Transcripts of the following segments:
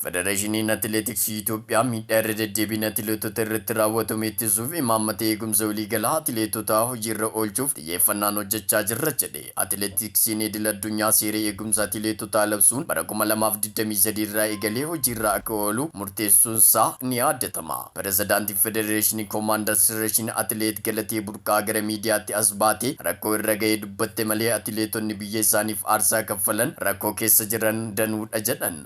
Federeeshiniin Atileetiksii Itoophiyaa miidhaa irra deddeebiin atileetota irratti raawwatamu ittisuuf imaammata eegumsa waliigalaa atileetotaa hojiirra oolchuuf xiyyeeffannaan hojjechaa jirra jedhe. Atileetiksiin idil addunyaa seera eegumsa atileetotaa labsuun bara 2023 irraa eegalee hojiirra akka oolu murteessuunsaa ni yaadatama. Pirezidaantiin Federeeshinii Koomaandar Sireshin Atileet Galatee Burqaa gara miidiyaatti as baatee rakkoo irra gahe dubbatte malee atileetonni biyya isaaniif aarsaa kaffalan rakkoo keessa jiran danuudha jedhan.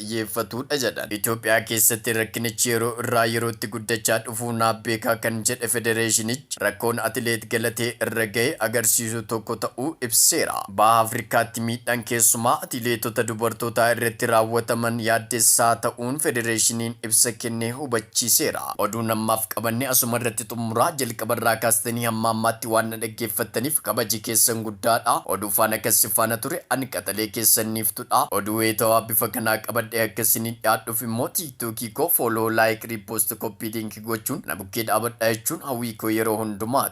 xiyyeeffatuudha jedhan. Itoophiyaa keessatti rakkinichi yeroo irraa yerootti guddachaa dhufuu naa beekaa kan jedhe federeeshinichi, rakkoon atileet Galatee irra gahe agarsiisu tokko ta'uu ibseera. Baha Afrikaatti miidhaan keessumaa atileetota dubartootaa irratti raawwataman yaaddessaa ta'uun federeeshiniin ibsa kennee hubachiiseera. Oduun ammaaf qabanne asumarratti xumurra. Hanga xumuraa, jalqaba irraa kaastanii hamma ammaatti waan na dhaggeeffattaniif kabaji keessan guddaa dha. Oduu faana kan si faana ture an qaxalee keessan Niiftu dha. Oduu wayitawaa bifa kanaa qabadhee akka isiniin dhiyaadhuuf immoo TikTok koo Follow, Like, Repost, Copy Link gochuun na bukkee dhaabadhaa jechuun hawwii koo yeroo hundumaati.